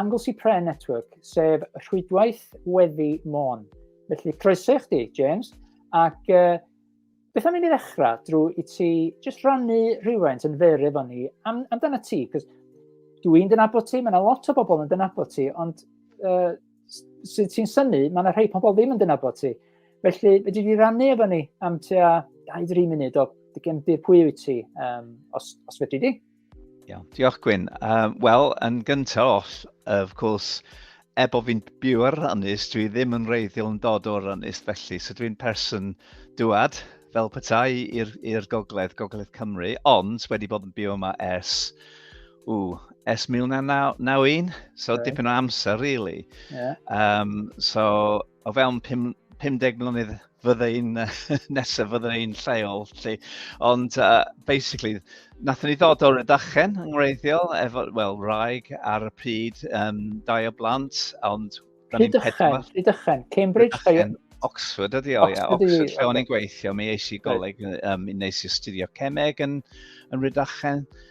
Anglesey Prayer Network, sef rhwydwaith weddi Môn. Felly, croeso i chdi, James, ac uh, beth am i ni ddechrau drwy i ti just rannu rhywfaint yn fyr efo ni am, amdana ti, cos dwi yn dynabod ti, mae yna lot o bobl yn dynabod ti, ond uh, sydd ti'n syni, mae yna rhai pobl ddim yn dynabod ti. Felly, fe di rannu efo ni am tua 2-3 munud o dy gefndir pwy wyt ti, um, os, os fedri di. Iawn, diolch Gwyn. Um, Wel, yn gyntaf oll, of course, er bod fi'n byw ar Ranus, dwi ddim yn reiddiol yn dod o'r Ranus, felly, so dwi'n person dwad fel petai i'r gogledd, gogledd Cymru, ond wedi bod yn byw yma ers, ww, ers 1991, so okay. dipyn o amser, really. Yeah. Um, so, o fewn 50 mlynedd fydde i'n nesaf fydde i'n lleol lle. Ond uh, basically, nathon ni ddod o'r ydachen yng ngwreiddiol, efo, wel, rhaeg ar y pryd, um, dau o blant, ond... Rhydychen, Rhydychen, Cambridge, Rhydychen, Oxford ydi o, ia. Oxford, lle o'n i'n gweithio, mi eisiau goleg, um, nes i astudio cemeg yn, yn Rhydychen. Rhydychen.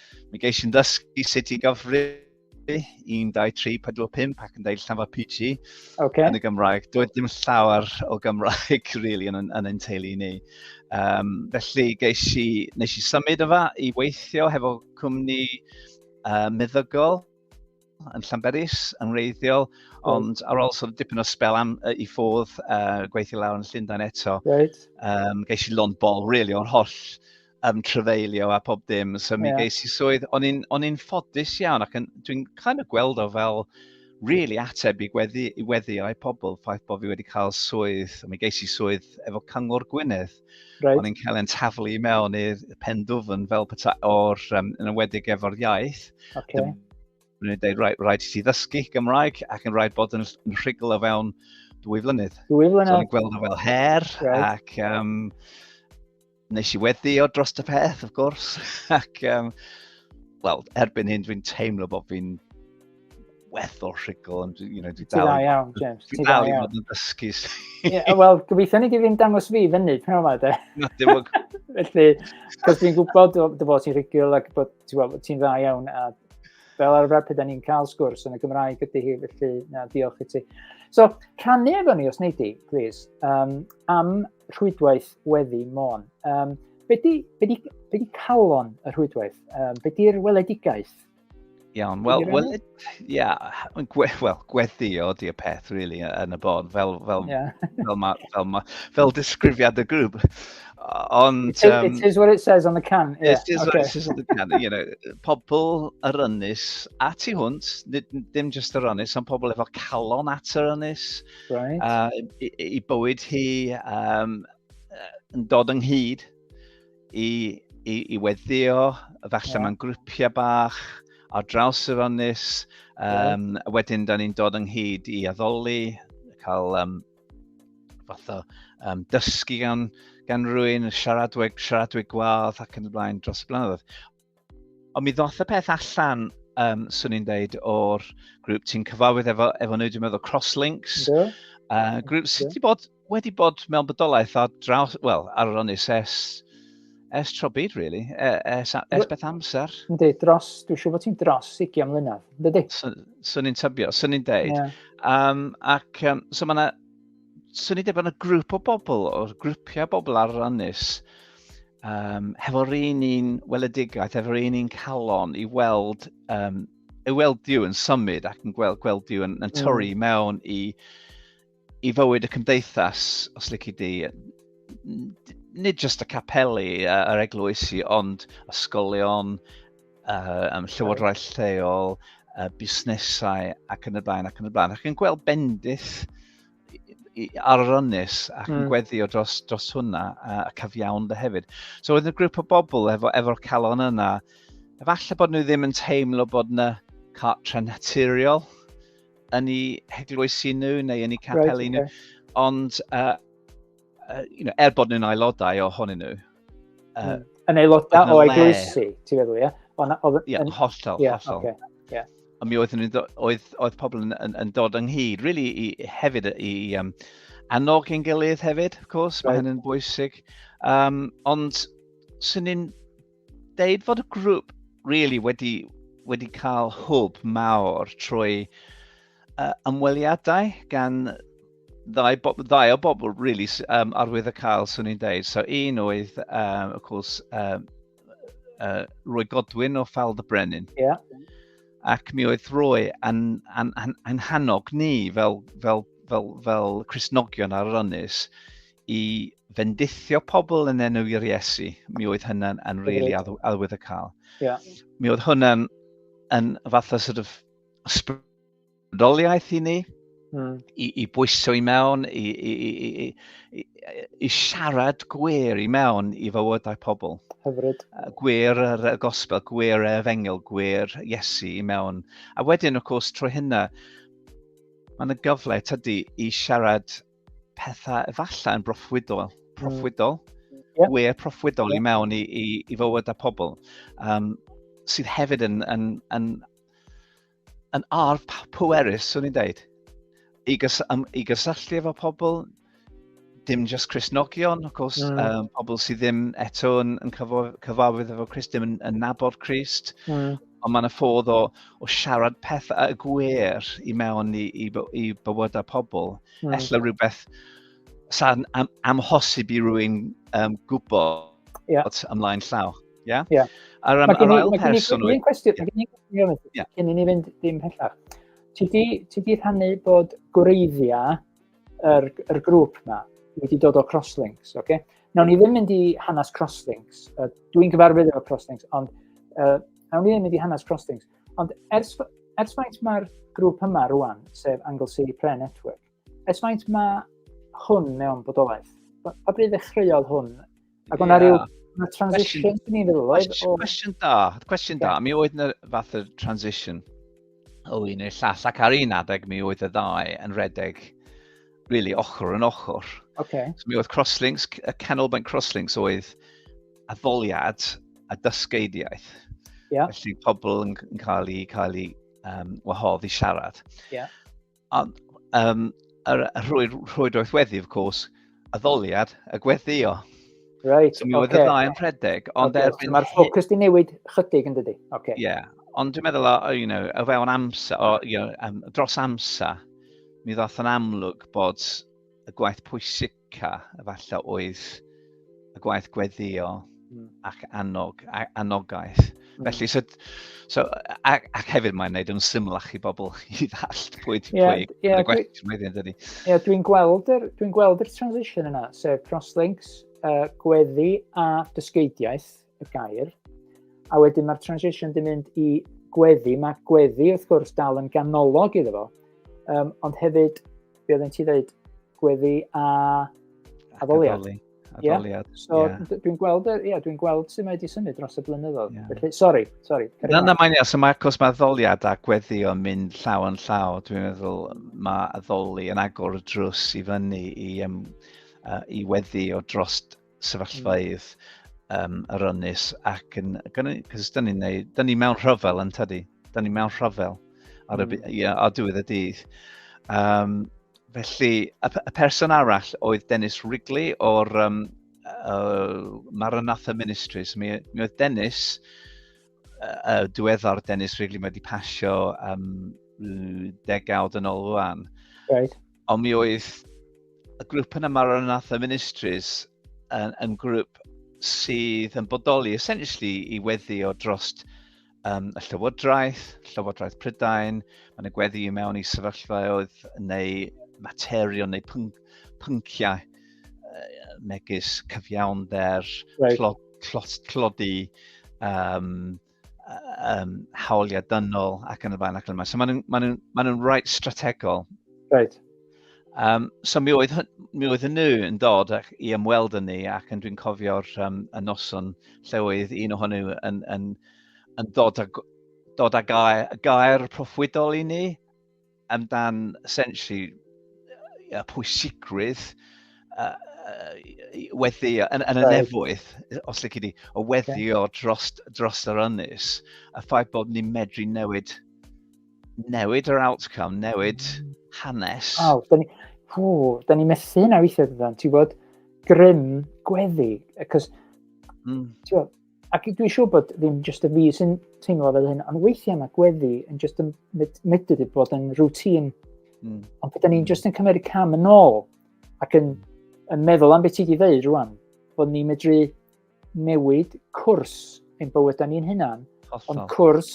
Mi geis i'n ddysgu sut i gyfri 1, 2, 3, 4, 5 ac yn deud llawer PG okay. yn y Gymraeg. Doedd dim llawer o Gymraeg really, yn, yn ein teulu ni. Um, felly geis i, nes i symud yma i weithio hefo cwmni uh, meddygol yn Llanberis yn wreiddiol, ond ar ôl sort of dipyn o spel am, uh, i ffodd uh, gweithio lawr yn Llundain eto, right. um, geis i lond bol, really, o'n holl um, trefeilio a pob dim. So mi yeah. geis i swydd, o'n i'n ffodus iawn ac dwi'n kind of gweld o fel really ateb i gweddi, i weddi o'i pobl ffaith bod fi wedi cael swydd, mi geis i swydd efo Cyngor Gwynedd. Right. O'n i'n cael ein taflu i mewn i'r pen dwfn fel peta o'r, um, yn ymwedig efo'r iaith. Okay. Dwi'n dweud, rhaid, rhaid i ti ddysgu Gymraeg ac yn rhaid bod yn rhigl o fewn dwy flynydd. Dwy flynydd. So, o'n gweld o fel her right. ac um, nes i weddi o dros y peth, of gwrs. ac, um, wel, erbyn hyn dwi'n teimlo bod fi'n werth o'r rhugl, ond you know, dwi dal... Ti iawn, James. Ti dal i fod yn dysgu. Wel, gobeithio ni ddim dangos fi fyny, pyn o'ma, de. Felly, cos dwi'n gwybod dy fod ti'n rhugl ac bod ti'n dda iawn, a fel arfer pe da ni'n cael sgwrs yn y Gymraeg ydy hi, felly na, diolch i ti. So, rhannu efo ni, os nei di, please, um, am rhwydwaith weddi Môn. Um, be di, be di, be di calon y rhwydwaith? Um, be di'r weledigaeth? Iawn, wel, wel, ia, gwe, wel, gweddio di y peth, really, yn y bon, fel, fel, yeah. fel, ma, fel, ma, fel disgrifiad y grŵp. Ond... It, um, it is what it says on the can. Yeah, it is okay. what it says on the can. You know, pobl yr ynys a tu hwnt, ddim just yr ynys, ond pobl efo calon at yr ynys. Right. Uh, i, i bywyd hi um, yn dod ynghyd i, i, i weddio, falle yeah. mae'n grwpiau bach ar draws yr onus. Um, yeah. Wedyn, da ni'n dod ynghyd i addoli, cael um, fath o um, dysgu gan, gan rwy'n siaradweg, siaradweg gwadd ac yn y blaen dros y blynyddoedd. Ond mi ddoth y peth allan, um, swn i'n deud, o'r grŵp ti'n cyfarwydd efo, efo nhw, dwi'n meddwl Crosslinks. Do. Uh, grŵp sydd wedi bod, wedi bod mewn bodolaeth ar draws, wel, ar yr onus es, es tro byd, really, e, es, es beth amser. Ynddi, dros, dwi'n siŵr bod ti'n dros ugian mlynedd, ynddi? Swn i'n tybio, swn i'n deud. Yeah. Um, ac, um, so mae yna swn i ddim yn y grŵp o bobl, o'r grwpiau bobl ar rannus, um, hefo'r un un weledigaeth, hefo'r un un calon i weld, um, i weld diw yn symud ac yn gweld, gweld diw yn, yn mm. torri mm. mewn i, i fywyd y cymdeithas, os lyci di, nid jyst y capeli a'r eglwysi, ond ysgolion, uh, um, llywodraeth lleol, uh, busnesau ac yn y blaen ac yn y blaen. Ac yn gweld bendith ar yr ynnes ac yn mm. gweddio dros, dros hwnna a, a cyfiawn dy hefyd. So oedd y grŵp o bobl efo, efo'r calon yna, efallai bod nhw ddim yn teimlo bod yna cartre naturiol yn ei heglwysi nhw neu yn ei capelu right, nhw, okay. ond uh, uh, you know, er bod nhw'n aelodau o honyn nhw. Uh, mm. Yn aelodau o eglwysi, ti'n meddwl, ie? Ie, hollol, hollol. Okay. Yeah. A mi oedd, oedd, oedd pobl yn, yn, yn dod ynghyd, really, i, hefyd i um, annog yn gilydd hefyd, of course, right. mae hynny'n bwysig. Um, ond, sy'n ni'n deud fod y grŵp really wedi, wedi cael hwb mawr trwy uh, ymweliadau gan ddau, ddau o bobl really, um, arwydd y cael, swn i'n deud. So un oedd, um, of course, um, uh, Roy Godwin o Fal the Brennan. Yeah. Ac mi oedd Roy yn, yn, yn, yn hannog ni fel, fel, fel, fel Christnogion ar yr ynys i fendithio pobl yn enw i'r Iesu, mi oedd hynna'n yn really adwydd y cael. Yeah. Mi oedd hwnna'n yn fath o sort of ysbrydoliaeth i ni, mm. i, i bwyso i mewn, i, i, i, i, i, i siarad gwer i mewn i fywydau pobl. Hyfryd. Gwer yr y gospel, gwer y efengil, gwer Iesu i mewn. A wedyn, of course, trwy hynna, mae'n y gyfle tydy i siarad pethau efallai yn broffwydol, hmm. proffwydol, mm. yeah. we proffwydol yeah. i mewn i, i, i fywyd a pobl, um, sydd hefyd yn, yn, yn, yn arf pwerus, swn i'n dweud, i, gys, um, i gysylltu efo pobl, dim just Christnogion, of course, mm. um, pobl sydd ddim eto yn, yn cyfarwydd efo Christ, dim yn, yn nabod Christ, mm. Ond mae'n ffordd o, o siarad pethau y gwir i mewn i, i, i bywydau pobl. Mm. Ella rhywbeth sa'n am, amhosib i rwy'n um, gwybod yeah. ymlaen llaw. Yeah? Yeah. Ar, um, ar ail person... Mae gen i'n cwestiwn, mae gen i'n cwestiwn, yeah. cyn i ni fynd dim pellach. Ti di, ti di rhannu bod gwreiddiau yr, yr grŵp yma wedi dod o Crosslinks, oce? Okay? Nawn ni ddim mynd i hanes Crosslinks, uh, dwi'n gyfarwydd efo Crosslinks, ond uh, nawn ni ddim mynd i hanes Crosslinks. Ond ers, ers faint mae'r grŵp yma rwan, sef Anglesey Prayer Network, ers faint mae hwn mewn bodolaeth? Pa bryd ddechreuodd hwn Ac o'na yeah. rhyw na transition i ni feddwl oedd? Cwestiwn da, cwestiwn da. Mi oedd yna fath o transition o un i'r llall, ac ar un adeg mi oedd y ddau yn redeg really ochr yn ochr. Okay. So mi oedd crosslinks, y canolbwynt crosslinks oedd addoliad a dysgeidiaeth. Yeah. Felly pobl yn, yn cael ei, cael ei um, wahodd i siarad. Yeah. Ond um, yr rhwyd, rhwydwaith weddi, of course, y ddoliad, y gweddio. Right, so mi oedd okay. y ddau yn rhedeg, ond okay, erbyn... So Mae'r ffocws di newid chydig yn dydy. Okay. Yeah, ond dwi'n meddwl, o, you know, o fewn amser, o, you know, um, dros amser, mi ddoth yn amlwg bod y gwaith pwysig Ca, efallai oedd y gwaith gweddio hmm. ac annog, anogaeth. Hmm. Felly, so, so, ac, ac hefyd mae'n gwneud yn symlach i bobl i ddallt pwy ti yeah, pwy. Yeah, dwi, yeah, dwi'n gweld yr dwi gweld yr transition yna, sef crosslinks, uh, gweddi a dysgeidiaeth, y gair. A wedyn mae'r transition di mynd i gweddi. Mae gweddi, wrth gwrs, dal yn ganolog iddo fo. Um, ond hefyd, be oedden ti ddweud, gweddi a addoliad. Addoli. Addoliad. Yeah. So, yeah. dwi'n gweld, yeah, dwi'n gweld sut mae wedi symud dros y blynyddoedd. Yeah. Felly, sori, sori. Na, na, mae'n iawn. So mae cwrs mae addoliad a gweddi o'n mynd llaw yn llaw. Dwi'n meddwl mae addoli yn agor y drws i fyny i, um, uh, i weddi o drost sefyllfaoedd um, yr ynys ac yn, cos da ni'n neud, da ni mewn rhyfel yn tydi, da ni mewn rhyfel ar y, mm. yeah, ar diwedd y dydd. Um, felly, y, y person arall oedd Dennis Wrigley o'r um, uh, Maranatha Ministries. Mi, mi oedd Dennis, uh, diweddar Dennis Wrigley, mae wedi pasio um, degawd yn ôl rwan. Right. Ond mi oedd y grŵp yna Maranatha Ministries yn, yn grŵp sydd yn bodoli essentially i weddi o drost um, y Llywodraeth, Llywodraeth Prydain, mae yna gweddi i mewn i sefyllfaoedd neu materion neu pyn pynciau uh, megis cyfiawnder, right. tlod, tlod, tlodi, um, um, hawliau dynol ac yn y blaen ac yn y blaen. So maen nhw'n ma nhw, ma nhw rhaid strategol. Right. Um, so mi oedd, mi oedd nhw yn dod ac, i ymweld yn ni ac yn dwi'n cofio'r um, y noson lle oedd un ohon nhw yn, yn, yn dod, a, dod â gair, gair proffwydol i ni amdan essentially y pwysigrwydd uh, weddio, yn, yn y nefoedd, os lyci di, o weddio dros, dros yr ynys, a ffaith bod ni'n medru newid, newid yr outcome, newid hanes. Aw, da ni, hw, da ni methu hynna weithiau dydan, ti'n bod, grym gweddi, cos, mm. ti'n bod, Ac dwi'n siŵr bod ddim jyst y fi sy'n teimlo fel hyn, ond weithiau mae gweddi yn jyst yn medru wedi bod yn rŵtîn. Mm. Ond byddwn ni'n jyst yn cymryd cam yn ôl ac yn, yn meddwl am beth ti wedi dweud rwan, bod ni'n medru newid cwrs ein bywydau ni'n hunan, Hollol. ond cwrs,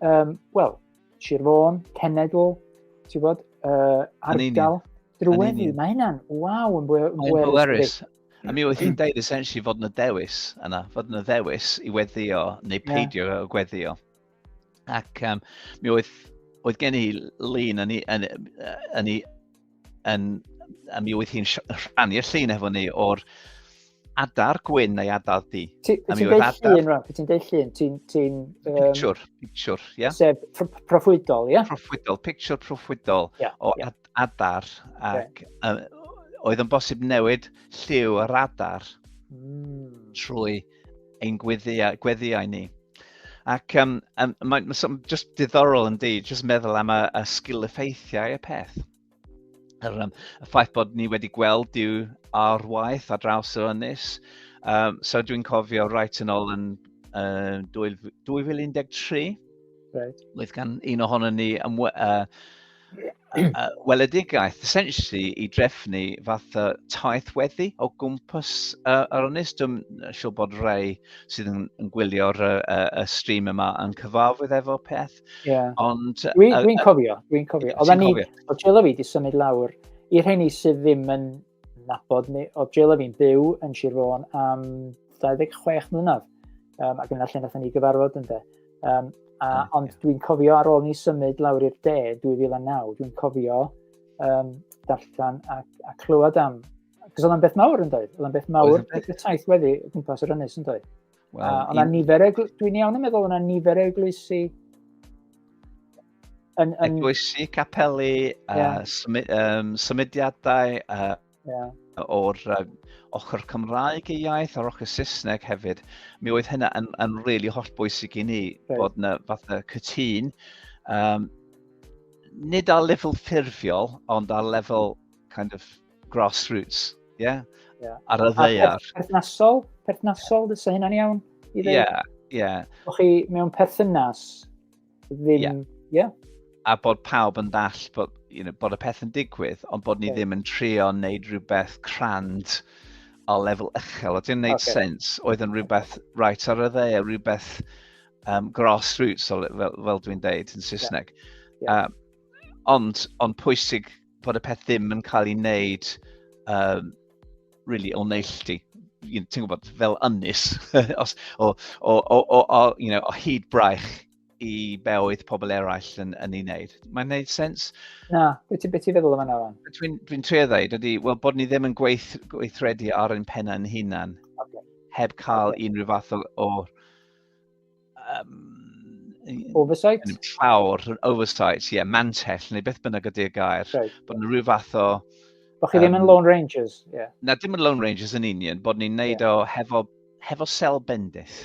um, wel, Sir Fôn, Cenedl, ti'n bod, uh, ardal, drwy Mae hynna'n, waw, yn bwerus. A mi oedd hi'n deud essentially fod yna dewis yna, fod yna ddewis i weddio neu peidio yeah. gweddio. Ac um, mi oedd, oedd gen i lun yn, yn, yn, yn, a mi oedd hi'n rhannu y llun efo ni o'r adar gwyn neu adar di. Ti'n deud llun, Raf, ti'n deud llun, ti'n... Ti um, picture, picture, ie. Yeah? Sef proffwydol, ie? Yeah? Proffwydol, picture proffwydol yeah, o yeah. adar ac uh, oedd yn bosib newid lliw yr adar mm. trwy ein gweddiau, gweddiau ni. Ac um, um, mae'n ma, just diddorol yn di, just meddwl am y, y sgil effeithiau y peth. Yr, um, y ffaith bod ni wedi gweld diw ar waith ar draws yr ynys. Um, so dwi'n cofio rhaid yn ôl yn uh, 2013, right. oedd gan un ohono ni ymwe, uh, uh, weledigaeth, essentially, i drefnu fath o taith weddi o gwmpas uh, yr ynys. Dwi'n siŵr bod rei sydd yn, yn gwylio'r uh, uh, stream yma yn cyfarwydd efo peth. Yeah. Ond... Dwi'n uh, dwi cofio, dwi'n cofio. Oedden ni, o Jill fi, di symud lawr. I'r rheini sydd ddim yn nabod ni. O Jill a fi'n byw yn Sir Fôn am 26 mlynedd. Um, ac yna lle nath ni gyfarfod ynddo. Um, a, yeah, ond yeah. dwi'n cofio ar ôl ni symud lawr i'r de 2009, dwi'n cofio um, darllen a, a clywed am... Cos oedd o'n beth mawr yn dweud. Oedd o'n beth mawr, oedd o'n beth taith wedi gwmpas yr ynnes yn dweud. Well, uh, ond nifer egl... Dwi'n iawn yn meddwl yna nifer eglwysi... Yn, yn... Eglwysi, capeli, yeah. uh, symu, um, symudiadau uh, yeah. o'r uh, ochr Cymraeg i iaith a'r ochr Saesneg hefyd. Mi oedd hynna yn, yn rili really holl bwysig i ni right. bod yna fath o cytun. Um, nid ar lefel ffurfiol, ond ar lefel kind of grassroots, ie? Yeah? Yeah. Ar y ddeiar. Perthnasol, perthnasol, dysa hynna'n iawn. Ie, ie. Yeah, yeah. O'ch chi mewn perthynas ddim... Yeah. yeah. A bod pawb yn dall bod, you know, bod y peth yn digwydd, ond bod ni okay. ddim yn trio wneud rhywbeth crand o lefel uchel. Oedd yn gwneud okay. sens, oedd yn rhywbeth right ar y dde, rhywbeth um, grassroots, fel, fel dwi'n deud yn Saesneg. Yeah. Yeah. Um, ond, ond pwysig bod y peth ddim yn cael ei wneud um, really o neilltu. You know, ti'n gwybod, fel ynys, os, o, o, o, o, o, you know, o hyd braich i be oedd pobl eraill yn, yn ei wneud. Mae'n gwneud sens? Na, beth ti'n feddwl yma nawr? Dwi'n dwi trio ddweud ydy, wel, bod ni ddim yn gweith, gweithredu ar ein penna'n hunan, okay. heb cael okay. unrhyw fath o, o Um, oversight? Llawr, oversight, ie, yeah, mantell, neu beth bynnag ydy'r gair. Right. Bod yn rhyw fath o... Bod chi um, ddim yn Lone Rangers, ie. Yeah. Na, dim yn Lone Rangers yn union, bod ni'n neud yeah. o hefo, hefo sel bendith.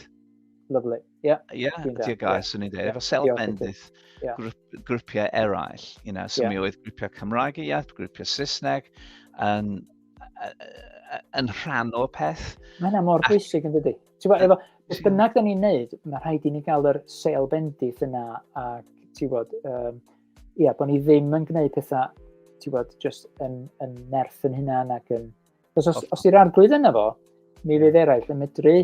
Lovely, ie. Yeah. Ie, yeah, ydy'r gair, yeah. swn i'n dweud, efo sel bendith. Yeah. grwpiau eraill, you know, so yeah. mi oedd grwpiau Cymraeg y iaith, grwpiau Saesneg, yn, yn rhan o'r peth. Mae hynna mor bwysig yn dydy. Ti'n gwybod, efo, beth bynnag da ni'n neud, mae rhaid i ni gael yr sel bendith yna, a ti'n gwybod, um, ia, bod ni ddim yn gwneud pethau, ti'n gwybod, just yn, yn nerth yn hynna, ac yn... Os, os, os i'r arglwydd yna fo, mi fydd eraill yn medru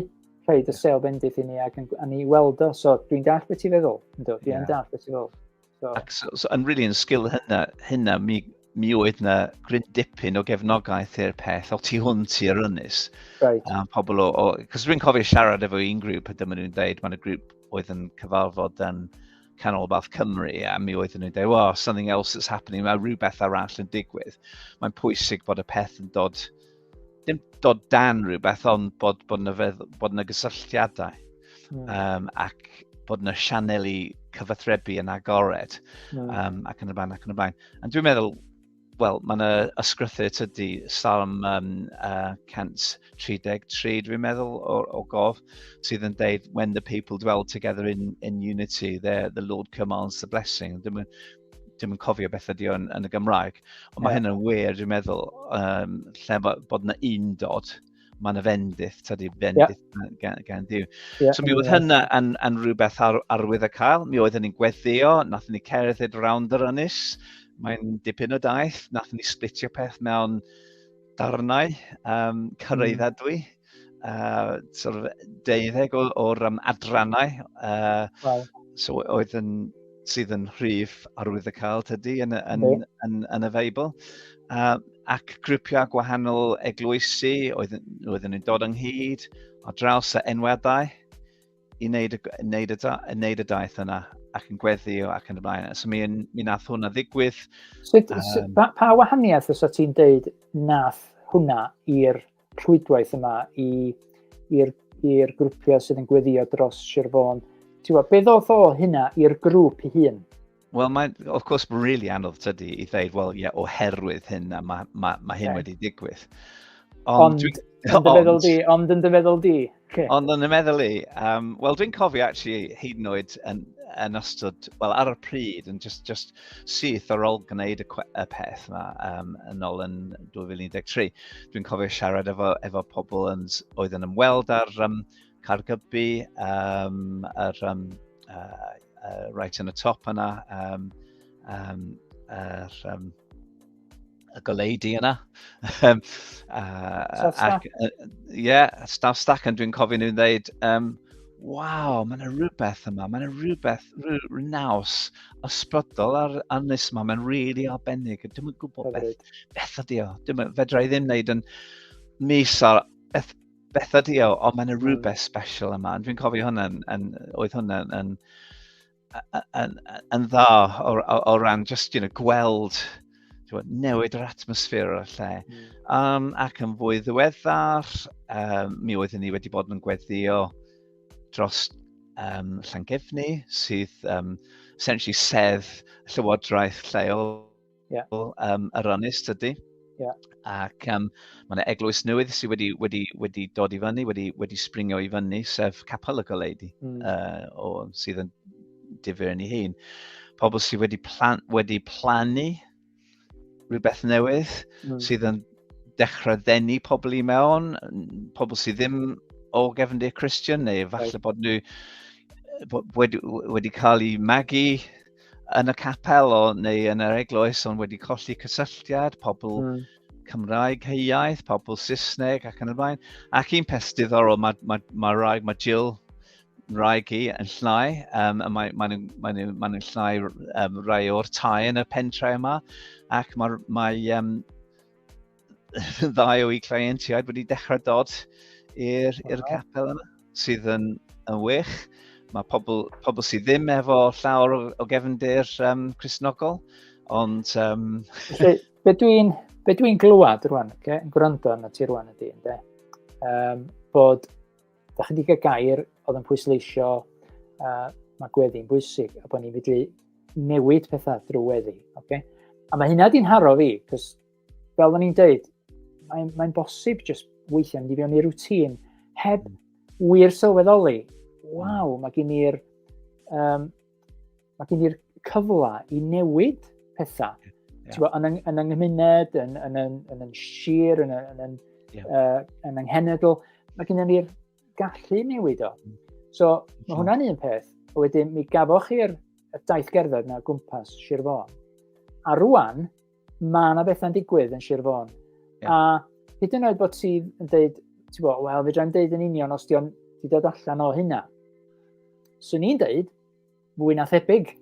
rhaid y sel bendith i ni ac yn, a ni weld o, so dwi'n dall beth ti'n feddwl, ynddo, dwi'n yeah. dall beth ti'n feddwl. So. Ac so, so, yn rili yn sgil hynna, hynna mi, mi oedd na gryn dipyn o gefnogaeth i'r peth, o ti hwn ti ar ynys. Right. Um, pobl o, o cos rwy'n cofio siarad efo un grŵp, a dyma nhw'n dweud, mae'n y grŵp oedd yn cyfarfod yn Canolbarth Cymru, a mi oedd nhw'n dweud, well, something else is happening, mae rhywbeth arall yn digwydd. Mae'n pwysig bod y peth yn dod dim dod dan rhywbeth, ond bod, bod, na, fedd, bod na gysylltiadau mm. um, ac bod na sianeli cyfathrebu yn agored mm. um, ac yn y blaen ac yn y blaen. A dwi'n meddwl, wel, mae yna ysgrythu tydi Salm um, uh, 133, dwi'n meddwl, o, o gof, sydd yn deud, when the people dwell together in, in unity, the, the Lord commands the blessing. Dwi'n dim yn cofio beth ydy o'n yn y Gymraeg. Ond mae yeah. hyn yn wir, dwi'n meddwl, um, lle bod yna un dod, mae'n y fendith, tydi fendith yeah. gan, gan Dyw. Yeah. So mi oedd hynna yn, yn rhywbeth ar, arwydd y cael, mi oedd hynny'n gweddio, nath ni cerdded round yr ynys, mae'n dipyn o daith, nath ni splitio peth mewn darnau um, cyrraeddadwy, mm. uh, sort of deuddeg o'r, or, um, adrannau uh, wow. so oedd yn, sydd yn rhif arwydd y cael tydi yn, yn, yn, yn, yn y Feibl. Uh, ac grwpiau gwahanol eglwysi oedd, oedd yn dod ynghyd ar draws y enweddau i wneud y, wneud y, wneud y daith yna ac yn gweddio ac yn y blaen. So mi, mi nath hwnna ddigwydd. So, um, pa, pa wahaniaeth os o ti'n deud nath hwnna i'r rhwydwaith yma i'r i'r grwpiau sydd yn gweddio dros Sir Fôn. Ti'n gwybod, beth oedd o hynna i'r grŵp i hun? Wel, mae'n, of course, mae'n really anodd tydi i ddeud, wel, ie, yeah, oherwydd hyn a mae ma, ma hyn okay. wedi digwydd. Ond, ond, yn dy feddwl di, ond yn dy feddwl di, Okay. Ond yn y meddwl i, um, wel dwi'n cofio actually hyd yn oed yn, yn ystod, wel ar y pryd yn just, just syth ar ôl gwneud y, y peth yma um, yn ôl yn 2013. Dwi'n cofio siarad efo, efo pobl yn, oedd yn ymweld ar um, Cargybu, um, ar, um, uh, uh, right yn y top yna, um, um, er, um, y goleudy yna. um, uh, ac, uh, yeah, staff stack yn dwi'n cofio nhw'n dweud, um, waw, mae'n rhywbeth yma, mae'n rhywbeth rhyw naws ysbrydol ar anus yma, mae'n rili really arbennig. Dwi'n mynd gwybod beth, beth ydi o. Dwi'n fedra i ddim wneud yn mis ar beth, beth ydi o, ond mae'n hmm. rhywbeth special yma. Dwi'n cofio hwnna, yn, yn, oedd hwnna yn, yn yn, yn dda o, o, o ran just you know, gweld bod, newid yr atmosffer o'r lle. Mm. Um, ac yn fwy ddiweddar, um, mi oeddwn ni wedi bod yn gweddio dros um, Llangefni, sydd um, essentially sedd llywodraeth lleol Yeah. Um, Aronis tydy. Yeah. Ac um, mae yna eglwys newydd sydd wedi, wedi, wedi dod i fyny, wedi, wedi springio i fyny, sef Capel y Goleidi, mm. uh, o, sydd yn difyr yn ei hun. Pobl sydd wedi, plan, wedi plannu rhywbeth newydd, mm. sydd yn dechrau ddenu pobl i mewn, pobl sydd ddim o gefndir Christian, neu falle right. bod nhw wedi, wedi cael eu magu yn y capel o, neu yn yr eglwys ond wedi colli cysylltiad, pobl mm. Cymraeg heiaeth, pobl Saesneg ac yn y blaen. Ac un peth diddorol, mae, mae, mae, rhaeg, mae Jill rhaeg i yn llnau, um, a mae'n mae, mae, mae, mae nhw'n llnau um, rai o'r tai yn y pentrau yma, ac mae, mae um, ddau o'i cleientiaid wedi dechrau dod i'r oh. capel yma, sydd yn, yn wych. Mae pobl, pobl sydd ddim efo llawr o, o gefndir um, Cresnogol, ond... Um... Felly, be dwi'n be dwi glywed rwan, okay, yn gwrando na ti rwan ydy, ynddo, um, bod, da chi wedi cael gair oedd yn pwysleisio uh, mae gweddi'n bwysig a bod ni'n fyddu newid pethau drwy weddi. Okay? A mae hynna di'n haro fi, cos fel o'n i'n deud, mae'n mae bosib jyst weithiau mynd i fewn i'r rŵtîn heb wir sylweddoli, waw, mae gen i'r um, mae gen i'r cyfle i newid pethau. Yeah. Yeah. Bo, yn, yng, yn yng nghymuned, yn, yn, yn, yn, yn sir, yn, yn, yn, yeah. uh, yn yng nghenedl, mae gen i'r gallu newid o. Mm. So, mae hwnna'n un peth. A wedyn, mi gafoch chi'r daith gerdded na gwmpas Sir Fôn. A rwan, mae yna bethau'n digwydd yn Sir Fôn. Yeah. A hyd yn oed bod ti yn dweud, ti'n bod, wel, fe dra'n dweud yn union os di'n di dod allan o hynna. Swn i'n dweud, fwy na thebyg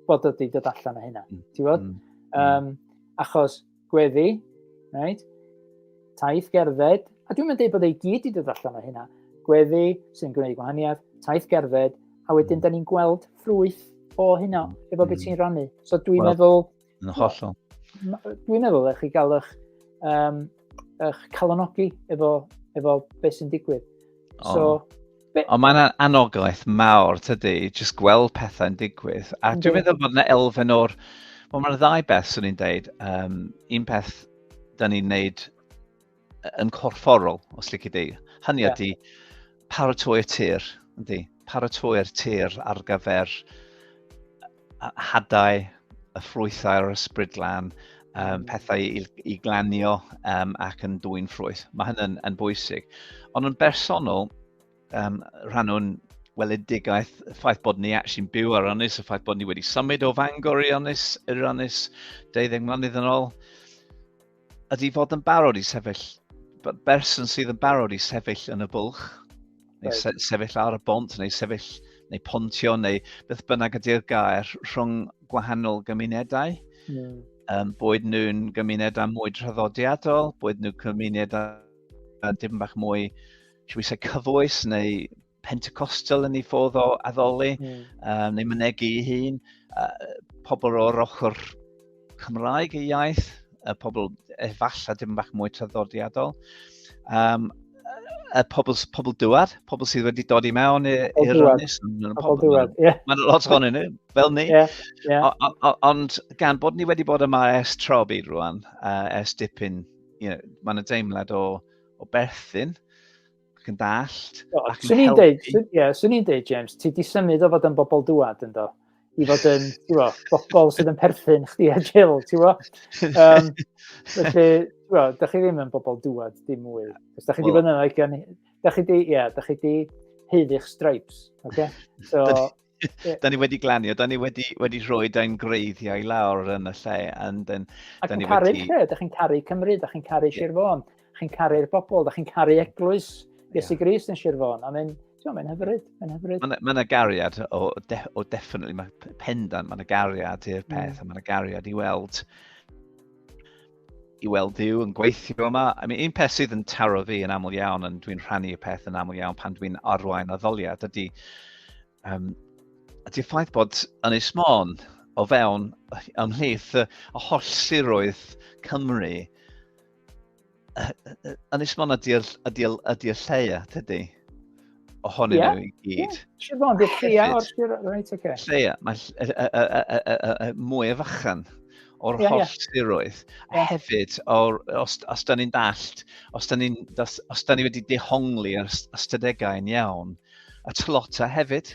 bod ydi dod allan o hynna. Mm. Ti'n bod? Mm. Um, achos gweddi, right? taith gerdded, a dwi'n mynd dweud bod ei gyd i dod allan o hynna, gweddi sy'n gwneud gwahaniaeth, taith gerdded, a wedyn mm. da ni'n gweld ffrwyth o hynna, efo beth mm. ti'n rannu. So dwi'n well, meddwl, Yn hollol. Dwi'n meddwl eich chi gael eich, um, eich calonogi efo, efo beth sy'n digwydd. Oh. So, Ond mae'n anogaeth mawr, tydy, jyst gweld pethau'n digwydd. A dwi'n meddwl bod yna elfen o'r... Wel, mae'n ddau beth, swn i'n deud. Um, un peth, da ni'n neud yn corfforol, os lle di. Hynny yeah. ydy paratoi'r tir, ydy. Paratoi'r tir ar gyfer hadau, y ffrwythau a'r ysbrydlan, um, pethau i, i glanio um, ac yn dwy'n ffrwyth. Mae hynny'n yn bwysig. Ond yn bersonol, um, rhan o'n weledigaeth, y ffaith bod ni actually'n byw ar Ynys, y ffaith bod ni wedi symud o Fangor i Ynys, i'r Ynys 12 mlynedd yn ôl, Ydy fod yn barod i sefyll, berson sydd yn barod i sefyll yn y bwlch, neu se sefyll ar y bont, neu sefyll, neu pontio, neu beth bynnag ydy'r gair rhwng gwahanol gymunedau. Mm. Um, boed nhw'n gymunedau mwy traddodiadol, boed nhw'n gymunedau yn dim bach mwy, siw i se, cyfoes, neu Pentecostal yn ei ffodd o addoli, mm. uh, neu mynegu ei hun, uh, pobl o'r ochr Cymraeg ei iaith, y pobl efallai dim bach mwy traddodiadol. Um, y pobl, pobl dywed, pobl sydd wedi dod i mewn i'r ynys. Pobl dywed, ie. Mae'n lot o'n ni, fel ni. Yeah, yeah. Ond gan bod ni wedi bod yma ers tro byd rwan, uh, ers dipyn, you know, mae'n y deimlad o, o berthyn, ac yn dallt. O, ac yn helpu. Deud, swn, yeah, swn i'n deud, James, ti di symud o fod yn bobl dŵad yn do? I fod yn, ti'n bo, bobl sydd yn perthyn chdi a Jill, ti'n bo? Um, felly, ti'n da chi ddim yn bobl dŵad dim mwy. Os da chi di well, fod yn like, da chi di, ie, yeah, da chi di heiddi'ch stripes, oce? Okay? So, da ni wedi glanio, da ni wedi, wedi rhoi da'n greiddiau lawr yn y lle. And then, a chi'n caru wedi... lle, da chi'n caru Cymru, da chi'n caru yeah. Sir Fôn, da chi'n caru'r bobl, da chi'n caru eglwys Iesu yeah. Gris yn Sir Fôn. I mean, Ti'n mae'n hyfryd, mae'n hyfryd. Mae yna gariad o, de, o definitely, mae pendant, mae yna gariad i'r hmm. peth, mm. a mae yna gariad i weld i weld Duw yn gweithio yma. I mean, un peth sydd yn taro fi yn aml iawn, ond dwi'n rhannu y peth yn aml iawn pan dwi'n arwain addoliad, ydy, um, ydy ffaith bod yn ei smon o fewn ymhlith y holl siroedd Cymru, yn ei smon ydy'r ydy, ydy, ydy lleia, tydy? ohonyn yeah. nhw i gyd. Yeah. Siobhan, di'r lleia o'r sir... Reit, oce. Lleia, mae mwy o fachan o'r yeah, holl yeah. siroedd. Yeah. Hefyd, or, os, os da ni'n dallt, os da ni, os, os da ni wedi dehongli ar ystadegau yn iawn, a tlota hefyd.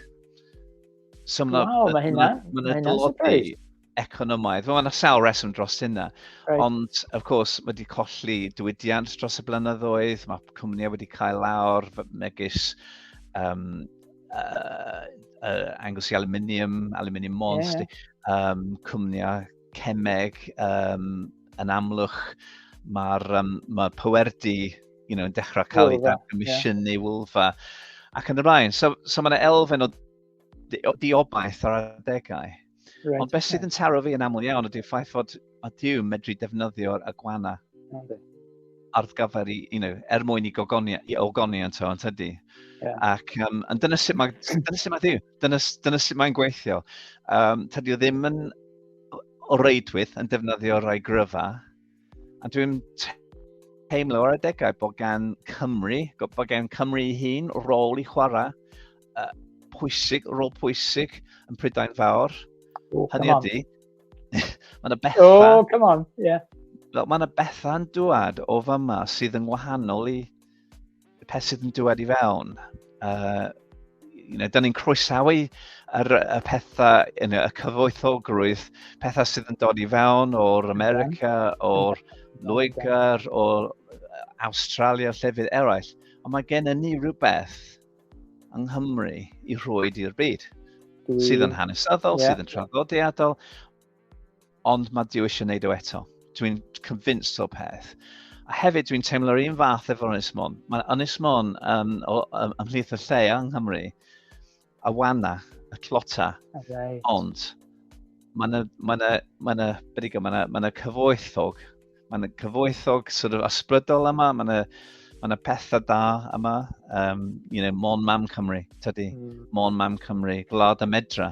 So, wow, mae hynna. Mae hynna dlodi. economaidd. Mae yna sawl reswm dros hynna. Right. Ond, of course, mae wedi colli diwydiant dros y blynyddoedd, mae cwmnïau wedi cael lawr megis um, uh, uh, Angus i aluminium, aluminium monst, yeah. um, cwmnïau cemeg um, yn amlwch. Mae'r um, ma pwerdi you know, yn dechrau cael ei ddatgomisiynu yeah. wylfa ac yn y blaen. So, so mae yna elfen o diobaith ar adegau. Right, Ond beth sydd yn taro fi yn aml iawn ydy'r ffaith fod a Dyw medru defnyddio'r agwana arddgafer i, you know, er mwyn i gogoni, i ogoni yn to, yn tydi. Yeah. Ac um, yn dyna sut mae, dyna sut mae Dyw, dyna, dyna sut mae'n gweithio. Um, tydi o ddim yn o reidwyth yn defnyddio rhai gryfa, A dwi'n teimlo ar adegau bod gan Cymru, bod gan Cymru hun rôl i chwarae uh, pwysig, rôl pwysig yn Prydain Fawr. Oh, Hynny ydy, mae yna bethau... Oh, come on, ie. Yeah. Mae yna bethau'n dwad o fama sydd yn wahanol i peth sydd yn dywed i fewn. Uh, you know, da ni'n croesawu yr, y pethau, you know, y cyfoethogrwydd, pethau sydd yn dod i fewn o'r America, o'r Loegr, o'r Australia, llefydd eraill. Ond mae gen i ni rhywbeth yng Nghymru i rhoi i'r byd. Sydd yn hanesyddol, yeah. sydd yn traddodiadol, ond mae Dyw eisiau gwneud o eto. Dwi'n convinced o'r peth. A hefyd dwi'n teimlo'r un fath efo'r Ynys Môn. Mae Ynys Môn um, um, ymhlith y lle yng Nghymru, a wana, y clota, right. ond mae yna, mae yna, mae yna, beth i mae yna, mae yna cyfoethog, mae yna cyfoethog sort of ysbrydol yma, mae yna, mae yna pethau da yma, um, you know, Mon Mam Cymru, tydi, mm. Mon Mam Cymru, Gwlad y Medra.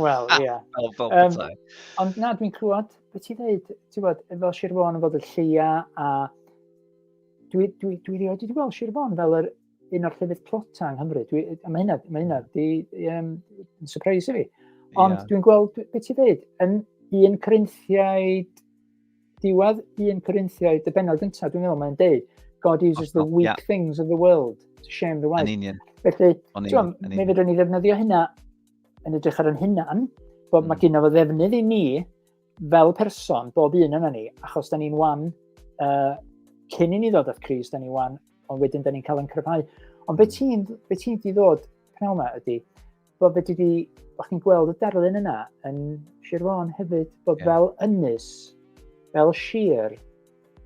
Wel, ie. Yeah. fel, fel um, ond na, dwi'n clywed, beth ti ddeud, ti'n bod, fel Sir Fôn yn fod y lleia, a dwi, dwi, dwi rioed wedi gweld Sir Fôn fel yr un o'r llefydd plota yng Nghymru. Dwi, a mae hynna, mae hynna, di, um, yn surprise i fi. Ond yeah. dwi'n gweld, beth ti ddeud, yn un Corinthiaid, diwedd un Corinthiaid, y benod gyntaf, dwi'n meddwl, mae'n deud, God uses the weak yeah. things of the world to shame the wise. Yn union. Felly, ti'n meddwl, fe fydden ni ddefnyddio hynna yn edrych ar yn hunan, bod mm. mae gynnaf o ddefnydd i ni fel person, bob un yna ni, achos da ni'n wan uh, cyn i ni ddod at Cris, da ni wan, ond wedyn da ni'n cael yn cryfhau. Ond beth ti'n be ti di ddod pnaw yma ydy, bod beth ti di, o'ch chi'n gweld y darlun yna yn Sir Fôn hefyd, bod yeah. fel ynys, fel sir,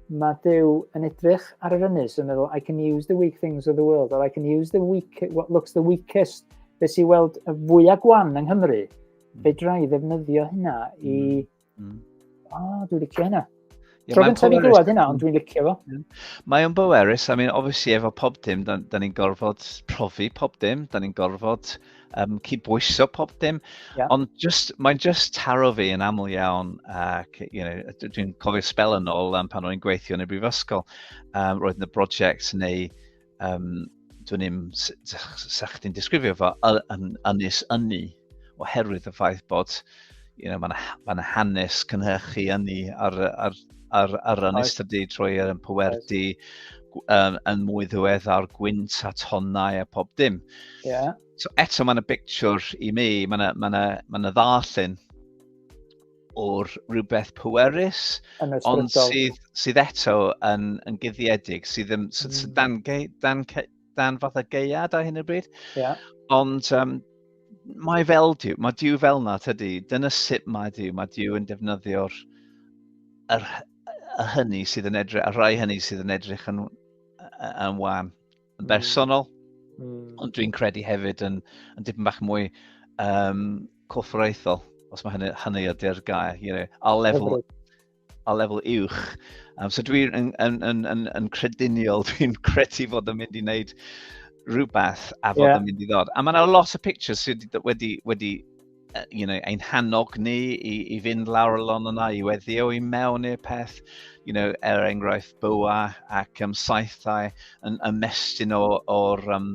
Mae Duw yn edrych ar yr ynys yn meddwl, I can use the weak things of the world, or I can use the weak, what looks the weakest, be sy'n weld y fwyaf gwan yng Nghymru, mm. fe drai ddefnyddio hynna i... Mm. Mm. O, oh, dwi'n licio hynna. Yeah, Tro gyntaf i glywed hynna, ond dwi'n licio fo. Mae o'n bwerus, I mean, obviously efo pob dim, da, da ni'n gorfod profi pob dim, da ni'n gorfod um, cydbwyso pob dim. Yeah. Ond just, mae'n just taro fi yn aml iawn ac you know, dwi'n cofio spel yn ôl um, pan o'n gweithio yn y brifysgol. Um, roedd yn y brosiect neu um, dwi'n im sa'ch chdi'n disgrifio fo yn ynys ynni oherwydd y ffaith bod you know, mae'n ma hanes cynhyrchu ynni ar, ar ar, ar ran ystydu trwy yn pwerdi um, yn mwy ddiweddar gwynt a tonnau a pob dim. Yeah. So eto mae'n y picture i mi, mae'n y, ma na, ma na ddarllen o'r rhywbeth pwerus, ond sydd, sydd eto yn, yn guddiedig, sydd, yn, sydd, sydd mm. dan, dan, dan fath o geiad ar hyn o bryd. Yeah. Ond um, mae fel diw, mae diw fel na tydi, dyna sut mae diw, mae diw yn defnyddio'r yr, y hynny sydd yn edrych, y rhai hynny sydd yn edrych yn, yn wan, yn hmm. bersonol, mm. ond dwi'n credu hefyd yn, yn dipyn bach mwy um, corfforaethol, os mae hynny, hynny ydy'r gair, you know, a lefel, a lefel uwch. Um, so dwi'n yn, yn, yn, yn, yn crediniol, dwi'n credu fod yn mynd i wneud rhywbeth a fod yeah. yn mynd i ddod. A mae yna lot o pictures sydd wedi, wedi uh, you know, ein hannog ni i, i fynd lawr y lon yna, i weddio i mewn i'r peth, you know, er enghraifft bywa ac um, saethau yn ymestyn o'r um,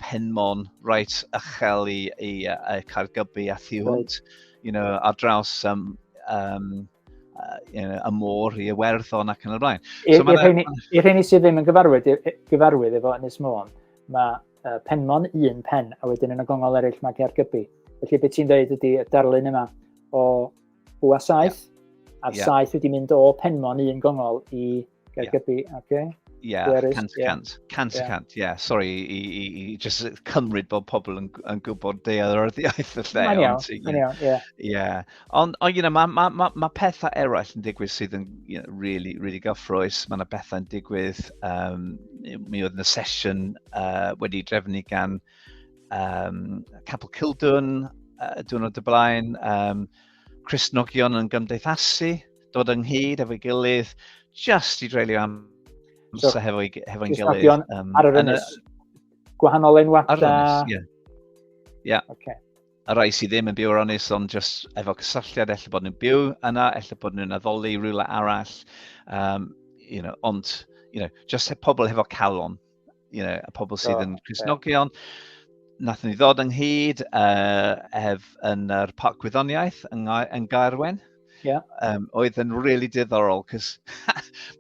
penmon reit ychel i, i, i Caergybi a thu hwnt, you know, ar draws um, um, uh, you know, y môr i Iwerddon ac yn y blaen. I'r so rheini sydd ddim yn gyfarwydd, gyfarwydd efo Ynys Môn, mae uh, penmon un pen, a wedyn yn y gongol eraill mae Caergybi. Felly beth ti'n dweud ydy y darlun yma o bwa saith, yeah. a'r yeah. saith wedi mynd o penmon un gongol i Gael gybi, oce. Ie, cant y cant. Cant y cant, ie. Sorry i, i, i just cymryd bod pobl yn, yn gwybod dealltwriaeth y lle. Mae'n iawn, mae'n iawn, ie. Ie. Ond, you know, mae ma, ma, ma pethau eraill yn digwydd sydd yn you know, really, really gyffroes. Mae yna bethau yn digwydd. Um, mi oedd yna sesiwn uh, wedi drefnu gan um, Capel Cildwn uh, diwrnod y blaen. Um, Chris Nogion yn gymdeithasu. dod ynghyd efo'i gilydd, just i dreulio am so, so hefo'i hefo gilydd. Um, ar yr ynys, gwahanol enwad. Ar yr ynys, ie. Ie. Okay. A rai sydd ddim yn byw ar ynys, ond just efo cysylltiad, efallai bod nhw'n byw yna, efallai bod nhw'n addoli rhywle arall, um, you know, ond, you know, just pobl hefo calon. you know, y pobl sydd yn Cresnogion. Nath ni ddod ynghyd uh, ef yn yr uh, Parc Gwyddoniaeth yn, yn Gaerwen. Yeah. Um, oedd yn really diddorol, cos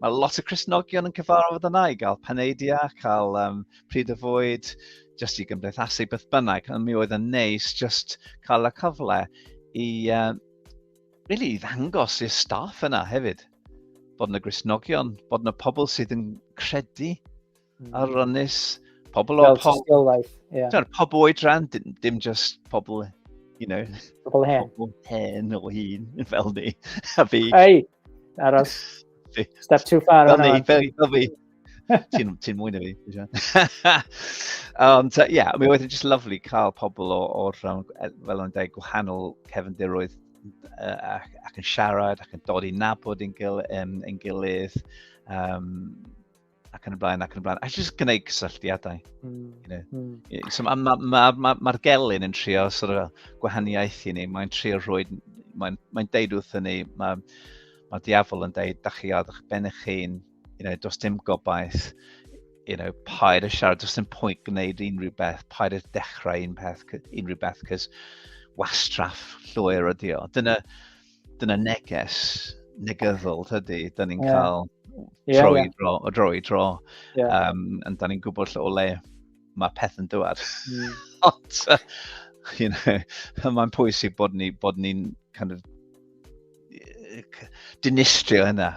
mae lot o Cresnogion yn cyfarfod yna i gael paneidia, cael um, pryd y fwyd, just i gymdeithasu beth bynnag. Ond mi oedd yn neis just cael y cyfle i uh, really i ddangos i'r staff yna hefyd, bod yna grisnogion, bod yna pobl sydd yn credu mm. ar rynus, pobl o pob... Tystiolaeth, ie. Yeah. Pobl o'i dran, dim, dim just pobl, you know... Pobl hen. Pobl hen o hun, fel ni, a fi. Ei, aros. Step too far. Fel ni, fel fi. ti'n ti mwy na fi. Ond, ie, yeah, mi oedd yn just lovely cael pobl o, o rhan, e, fel o'n dweud, gwahanol cefndiroedd uh, ac, ac yn siarad ac yn dod i nabod yn, gil, um, yn gilydd um, ac yn y blaen ac yn y blaen. A just gwneud cysylltiadau. Mm. You know? mm. So mae'r ma, ma, ma, ma gelyn yn trio sort of, gwahaniaeth i ni, mae'n trio rhoi, mae'n mae deud wrth ni, mae ma diafol yn deud, da chi ar eich ben eich hun, you know, does dim gobaith, you know, paid y siarad, does dim pwynt gwneud unrhyw beth, paid y dechrau un peth, unrhyw beth, cys wastraff llwyr ydi o. Dyna, dyna neges negyddol, tydi, da ni'n yeah. cael yeah, tro yeah. i dro, o dro i dro, yeah. um, and da ni'n gwybod lle o le mae peth yn dwad. Mm. Ond, you know, mae'n pwysig bod ni'n ni, bod ni kind of, dinistrio hynna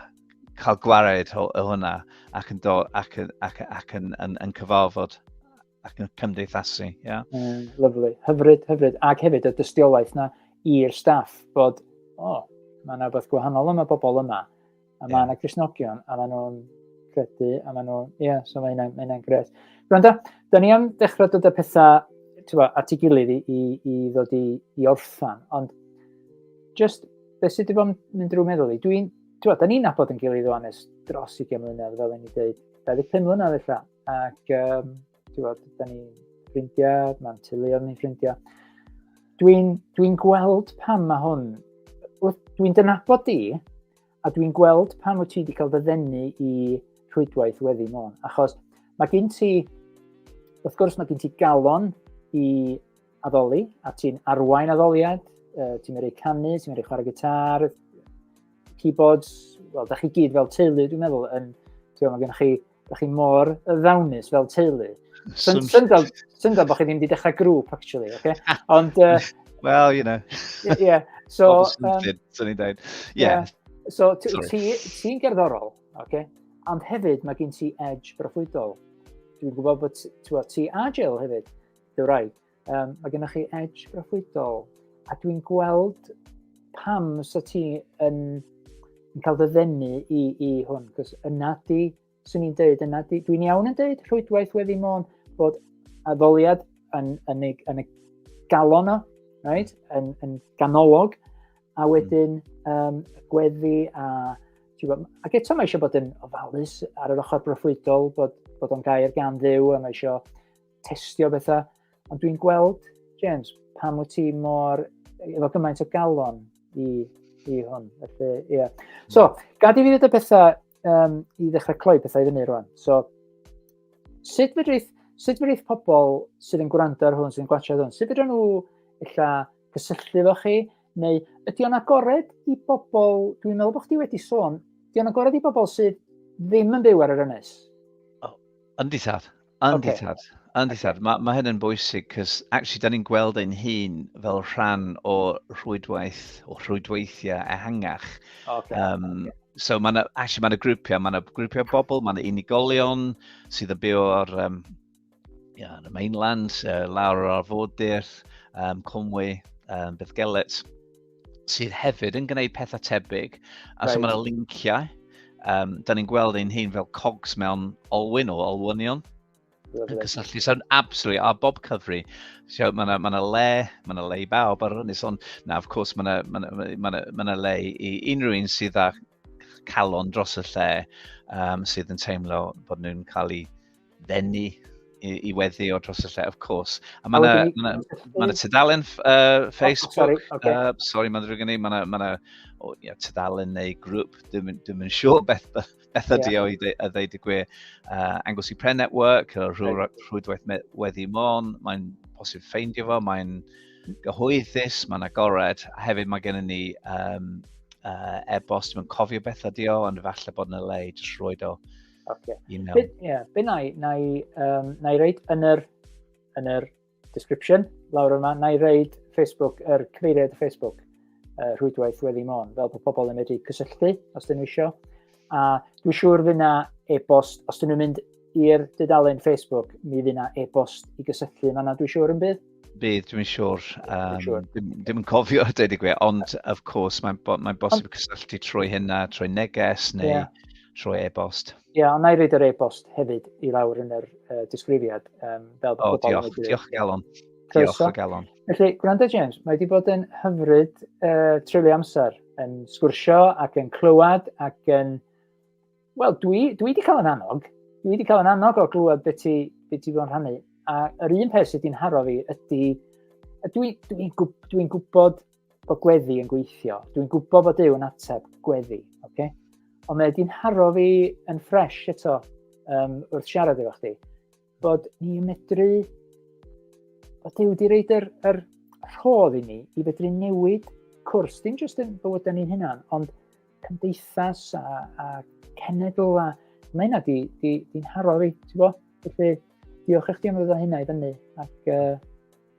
cael gwared o, o hwnna ac yn, do, ac, ac, ac, ac yn, yn, yn cyfarfod ac yn cymdeithasu. Yeah? Mm, lovely, hyfryd, hyfryd. Ac hefyd y dystiolaeth na i'r staff bod, o, oh, mae yna rhywbeth gwahanol yma bobl yma. A mae yna yeah. Cresnogion, a mae nhw'n credu, a mae nhw'n, ie, yeah, so mae hynna'n mae gret. Rwy'n da, da ni am dechrau dod â pethau tywa, at ei gilydd i, i, i ddod i, i orffan, ond just, beth sydd wedi bod yn mynd drwy meddwl i, dwi'n ti'n da ni'n nabod yn gilydd o'n es dros 20 mlynedd, fel yn ni dweud, 25 mlynedd eitha, ac um, ti'n bod, da ni'n ffrindiau, mae'n teuluodd ni'n ffrindiau. Dwi'n dwi gweld pam mae hwn, dwi'n dynabod di, a dwi'n gweld pam wyt ti wedi cael ddyfennu i rhwydwaith weddi môn, achos mae gen ti, wrth gwrs mae gen ti galon i addoli, a ti'n arwain addoliad, uh, ti'n mynd i canu, ti'n mynd i chwarae gitar, keyboards, wel, da chi gyd fel teulu, dwi'n meddwl, yn, ti'n meddwl, gennych chi, da chi mor ddawnus fel teulu. Syndod, syndod bod chi ddim wedi dechrau grŵp, actually, okay? Ond... Uh, well, you know. yeah, so... Pobl sy'n ni'n dweud. Yeah. So, ti'n gerddorol, okay? Ond hefyd, mae gen ti edge broffwydol. Dwi'n gwybod bod ti a Jill hefyd You're right. Um, mae gennych chi edge broffwydol. A dwi'n gweld pam sa ti yn, yn cael dy ddenu i, i hwn. Cos yna di, swn i'n dweud, yna di, dwi'n iawn yn dweud rhwydwaith wedi mon bod addoliad yn, yn, yn, yn y galon o, right? yn, yn ganolog, a hmm. wedyn um, gweddi a... Ac eto mae eisiau bod yn ofalus ar yr ochr broffwydol, bod, bod o'n gair gan ddew, a mae eisiau testio bethau. Ond dwi'n gweld, James, pam wyt ti mor, efo gymaint o galon i, i hwn. Felly, ie. Yeah. So, gad i fi ddweud y pethau um, i ddechrau cloi pethau i fyny rwan. So, sut fydrith, sut fydrith pobl sydd yn gwrando ar hwn, sydd yn gwachio hwn, sut fydrith nhw illa cysylltu efo chi, neu ydy o'n agored i bobl, dwi'n meddwl bod chdi wedi sôn, ydy o'n agored i bobl sydd ddim yn byw ar yr ynys? Oh, yndi tad, Yndi okay. tad, yndi okay. tad. Mae ma hyn yn bwysig, cys actually, da ni'n gweld ein hun fel rhan o rhwydwaith, o rhwydweithiau ehangach. Okay. Um, okay. So mae yna, actually, mae yna grwpiau, mae yna grwpiau bobl, mae yna unigolion sydd yn byw o'r um, yeah, the mainland, uh, lawr o'r arfordir, um, Conwy, um, Bethgelet. sydd hefyd yn gwneud pethau tebyg. A right. so mae'n linciau. Um, da ni'n gweld ein hun fel cogs mewn olwyn o olwynion. Yn cysylltu, so'n absolutely, a bob cyfri. So, mae yna ma le, mae yna le i bawb ar hynny. So, na, of course, mae yna ma ma ma ma le i unrhyw un sydd â calon dros y lle um, sydd yn teimlo bod nhw'n cael ei ddenu i, i weddi o dros y lle, of course. A mae yna ma ma tudalen uh, Facebook, oh, sorry, okay. uh, sorry mae'n ddrwg yn ei, mae yna ma oh, yeah, tudalen neu grŵp, dim, dim yn siŵr beth, beth ydi yeah. o i ddeud y gwe. Uh, Anglesey Pre Network, Rhwydwaith Weddi Mon, mae'n posib ffeindio fo, mae'n... Uh, gyhoeddus, mae'n agored, a hefyd mae gennym ni um, uh, e-bost, mae'n cofio beth ydi o, ond falle bod yna le i jyst roed o okay. i mewn. Be, yeah, be na i, na i, um, na i reid yn yr, yn yr description lawr yma, na i reid Facebook, yr er cyfeiriad Facebook uh, rhwydwaith wedi mon, fel bod pobl yn medru cysylltu os dyn nhw eisiau. A dwi'n siŵr fydd na e-bost, os dyn nhw'n mynd i'r dudalen Facebook, mi fydd yna e-bost i gysylltu yma na dwi'n siŵr yn bydd? Bydd, dwi'n siŵr. Um, sure. dim, dim yn cofio, dweud i gwe, ond of course, mae'n bo, mae bosib ond... cysylltu trwy hynna, trwy neges neu yeah. trwy e-bost. Ie, yeah, ond na i reid yr e-bost hefyd i lawr yn yr uh, disgrifiad. Um, fel o, diolch, diolch Galon. Diolch o galon. Felly, gwrando James, mae wedi bod yn hyfryd uh, treulio amser yn sgwrsio ac yn clywed ac yn... Wel, dwi, dwi wedi cael yn annog. Dwi wedi cael yn annog o glywed beth ti, be ti fod rhannu. A yr un peth sydd wedi'n haro fi ydy... Dwi'n dwi, dwi, dwi gwybod bod gweddi yn gweithio. Dwi'n gwybod bod yw yn ateb gweddi. Okay? Ond mae wedi'n haro fi yn ffres eto um, wrth siarad efo chdi. bod ni'n medru, bod Dyw wedi reid yr, yr rhodd i ni i fedru newid cwrs, dim jyst yn bywydau ni'n hynna'n, ond cymdeithas a, a cenedl a mae hynna di, di, di nharo fi, ti'n bo? Felly, diolch i chdi am ddod o hynna i fyny. Ac, uh,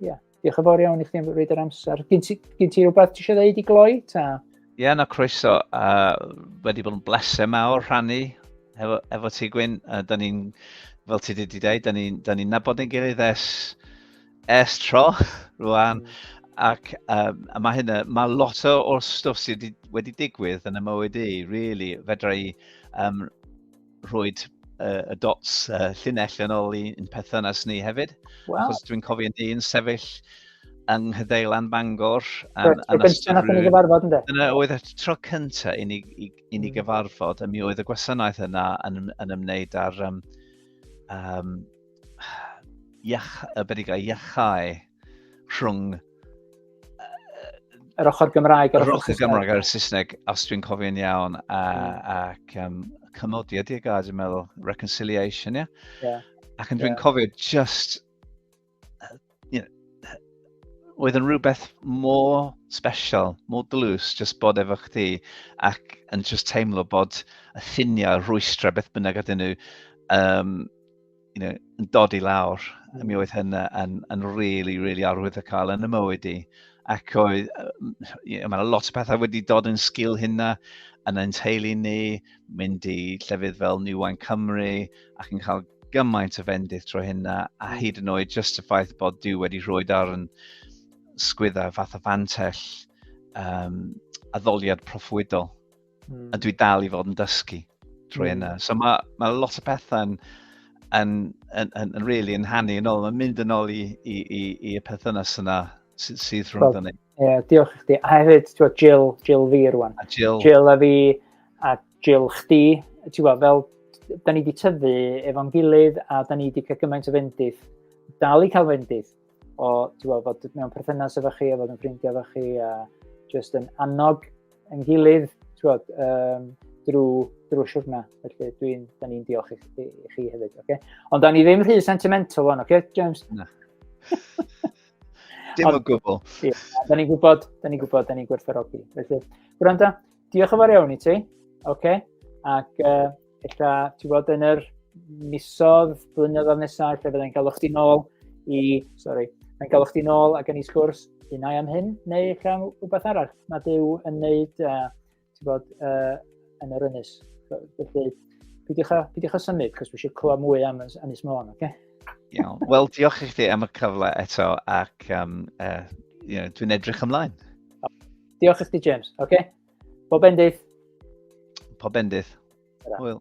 yeah. Diolch yn fawr iawn i chdi am roed yr amser. Gyn ti, gyn ti rhywbeth ti eisiau dweud i gloi ta? Ie, yeah, na croeso. Uh, wedi bod yn bleser mawr rhannu efo, efo ti Gwyn. Uh, da ni'n, fel ti wedi dweud, da ni'n ni, ni nabod yn gilydd es, es tro rwan. Mm. Ac um, a mae hynna, mae lot o'r stwff sydd wedi, wedi digwydd yn y mywyd i, really, fedra i um, rhoi uh, y dots uh, llinell yn ôl i'n perthynas ni hefyd. Wow. Achos dwi'n cofio ni'n sefyll yng Nghyddeilan Bangor. Am, so, am gyntaf nath ni gyfarfod ynddo? Dyna oedd y tro cyntaf i ni, i, i ni hmm. gyfarfod, a mi oedd y gwasanaeth yna yn, yn ymwneud â'r um, um, iach, y bedig iachau rhwng yr ochr Gymraeg a'r ochr Gymraeg a'r Saesneg, os dwi'n cofio'n iawn, a, hmm. ac um, cymodiad i'r gair, dwi'n meddwl, reconciliation, ie? Yeah? Yeah. Ac yn dwi'n yeah. cofio just, uh, you know, oedd yn rhywbeth mor special, mor dlws, just bod efo chdi, ac yn just teimlo bod y ffiniau rhwystra beth bynnag ydyn nhw, um, you know, yn dod i lawr, a mi oedd hynna yn, yn really, really arwydd y cael yn y mywyd i. Ac oedd, you know, mae yna lot o pethau wedi dod yn sgil hynna yn ein teulu ni, mynd i llefydd fel New Wine Cymru, ac yn cael gymaint o fendith trwy hynna, a hmm. hyd yn oed just y ffaith bod Dyw wedi rhoi ar yn sgwydda fath o fantell um, addoliad proffwydol. mm. a dwi dal i fod yn dysgu trwy mm. yna. So mae, ma lot o pethau yn, yn, yn, yn, yn really yn hannu yn ôl. Mae'n mynd yn ôl i, i, i, i y perthynas yna sydd, sydd rhwng dyn ni. Ie, diolch i chdi. A hefyd, ti'n gwybod, Jill, Jill fi rwan. A Jill. Jill a fi, a Jill chdi. Ti'n gwybod, fel, da ni wedi tyfu efo'n gilydd a da ni wedi cael gymaint o fendith. Dal i cael fendith. o, ti'n gweld, bod mewn perthynas efo chi, a fod yn ffrindiau efo chi, a jyst yn annog yn gilydd, ti'n gweld, um, drwy, drwy siwrna. Felly, dwi'n, da ni'n diolch i, i, i chi hefyd, oce? Okay? Ond da ni ddim rhy sentimental o'n, oce, okay, James? Na. Dim o gwbl. Ie, da ni'n gwybod, da ni'n gwybod, da ni'n gwerthfarogi. Felly, gwranda, Diolch yn fawr iawn i ti. Oce. Okay. Ac uh, ella, ti'n gwybod, yn yr misodd, blynyddoedd nesaf, lle fydda'n cael o'ch ti'n ôl i, sorry, yn cael o'ch ti'n ôl ac yn ei sgwrs un ai am hyn, neu eich am rhywbeth arall na dyw yn neud, uh, ti'n bod, uh, yn yr ynys. Felly, pidwch a, pidwch a symud, cos fi eisiau clywed mwy am Ynys Môn, oce? Okay? Iawn. Wel, diolch i chdi am y cyfle eto ac um, uh, you know, dwi'n edrych ymlaen. Diolch i chdi, James. Oce? Okay? Bob bendith. Pob bendith. Hwyl.